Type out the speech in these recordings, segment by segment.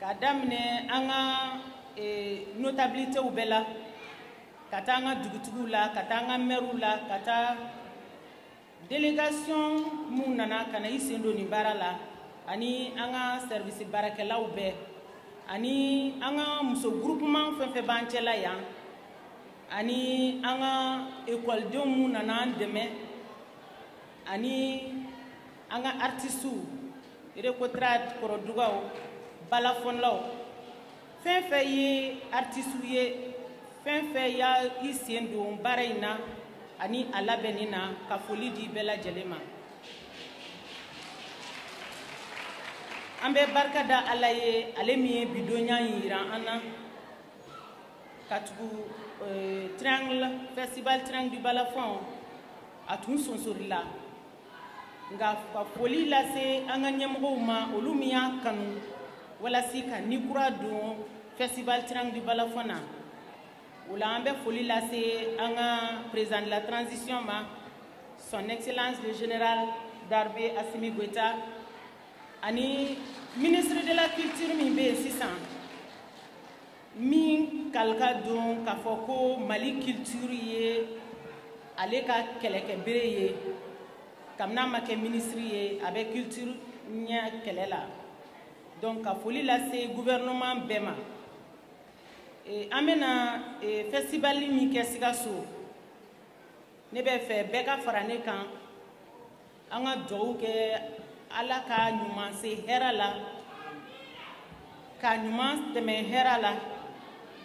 k'a daminɛ an ka eh, notabilitew bɛɛ la ka taa an ka dugutigiw la ka taa an ka mɛriw la ka taa delegation minnu nana ka na i sen don nin baara la ani an ka sɛrivisi baarakɛlaw bɛɛ ani an ka muso gurupuman fɛn fɛn b'an cɛla yan ani an ka ekɔlidenw minnu nana an dɛmɛ ani an ka artisiw Recotrade kɔrɔdugaw balafɔlaw fɛn fɛn ye artisiw ye fɛn fɛn y'a i sen don baara in na ani a labɛnni na ka foli di bɛɛ lajɛlen ma an bɛ barika da ala ye ale min ye bi don ɲa in jira an na katugu eh, triangle festival triangle du balafɔn a tun sonsorila nka ka foli lase an ka ɲɛmɔgɔw ma olu min y'a kanu walasi ka ni kura don festival triangle du balafon na o la an bɛ foli lase an ka président de la transition ma son excellence le général d'armée Assimi Goïta ani ministre de la culture min bɛ yen sisan min kalikan don k'a fɔ ko mali kilitiri ye ale ka kɛlɛkɛbere ye kabini a ma kɛ minisiri ye a bɛ kilitiri ɲɛ kɛlɛ la donc ka foli lase gouvernement bɛɛ ma e, an bɛna e, festival min kɛ sikaso ne bɛ fɛ bɛɛ ka fara ne kan an ka dugawu kɛ ala k'a ɲuman se hɛrɛ la ka ɲuman tɛmɛ hɛrɛ la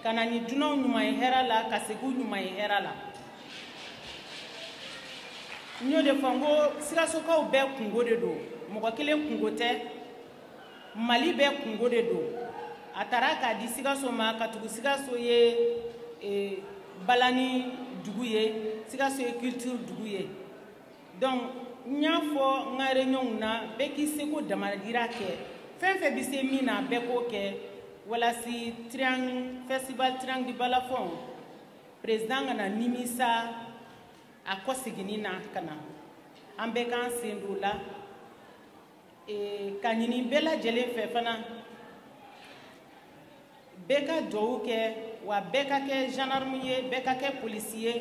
ka na ni dunanw ɲuman ye hɛrɛ la ka segin ɲuman ye hɛrɛ la n y'o de fɔ n ko sikasokaw bɛɛ kunko de don mɔgɔ kelen kunko tɛ mali bɛɛ kunko de don a taara k'a di sikaso ma katugu sikaso ye eh, balani dugu ye sikaso ye culture dugu ye donc n y'a fɔ n ka réunion na bɛɛ k'i seko damajira kɛ fɛn fɛn bɛ se min na bɛɛ k'o kɛ walasi triangle festival triangle du balafon président kana nimisa a kɔseginni na ka na an bɛɛ k'an sen don o la k'a ɲini bɛɛ lajɛlen fɛ fana bɛɛ ka dugawu kɛ wa bɛɛ ka kɛ gendarme ye bɛɛ ka kɛ polisi ye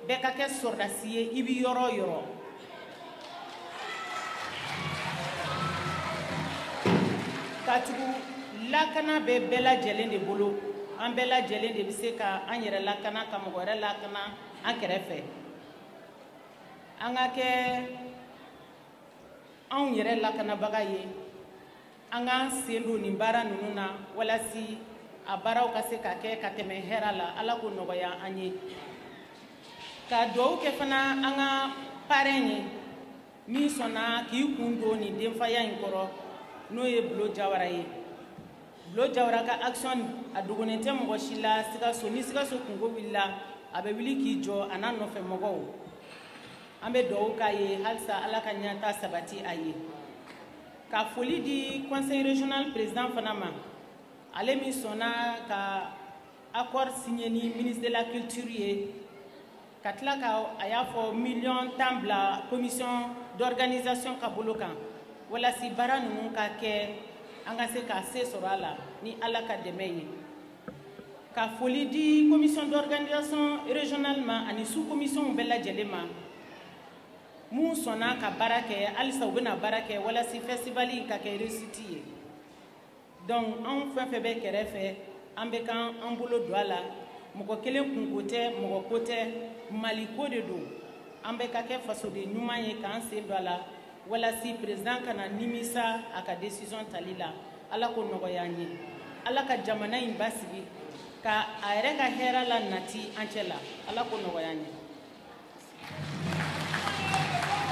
bɛɛ ka kɛ sɔrɔdasi ye i bɛ yɔrɔ o yɔrɔ katugu lakana bɛ bɛɛ lajɛlen de bolo an bɛɛ lajɛlen de bɛ se ka an yɛrɛ lakana ka mɔgɔ wɛrɛ lakana an kɛrɛfɛ an ka kɛ anw yɛrɛ lakanabaga ye an k'an sen don nin baara ninnu na walasi a baaraw ka se ka kɛ ka tɛmɛ hɛra la ala ko nɔgɔya an ye ka duwawu kɛ fana an ka parrain ye min sɔnna k'i kun don nin denfaya in kɔrɔ n'o ye bulo jawara ye bulo jawara ka action a dogonen tɛ mɔgɔ si la sikaso ni sikaso kunko wulila a bɛ wuli k'i jɔ a n'a nɔfɛ mɔgɔw an bɛ dugawu k'a ye halisa ala ka ɲɛta sabati a ye ka foli di conseil régional président fana ma ale min sɔnna ka accord signé ni ministre de la culture ye ka tila ka a y'a fɔ miliyɔn tan bila commission d'organisation ka bolo kan walasi baara ninnu ka kɛ an ka se ka se sɔrɔ a la ni ala ka dɛmɛ ye ka foli di commission d'organisation régionale ma ani sous commissionw bɛɛ lajɛlen ma minnu sɔnna ka baara kɛ halisa u bɛna baara kɛ walasi festival in ka kɛ réussite ye donc anw fɛn fɛn bɛ kɛrɛfɛ an bɛɛ ka an bolo don a la mɔgɔ kelen kunko tɛ mɔgɔ ko tɛ maliko de don an bɛɛ ka kɛ fasoden ɲuman ye k'an sen don a la walasi président kana nimisa a ka décision tali la ala ko nɔgɔya an ye ala ka jamana in basigi ka a yɛrɛ ka hɛrɛ la nati an cɛ la ala ko nɔgɔya an ye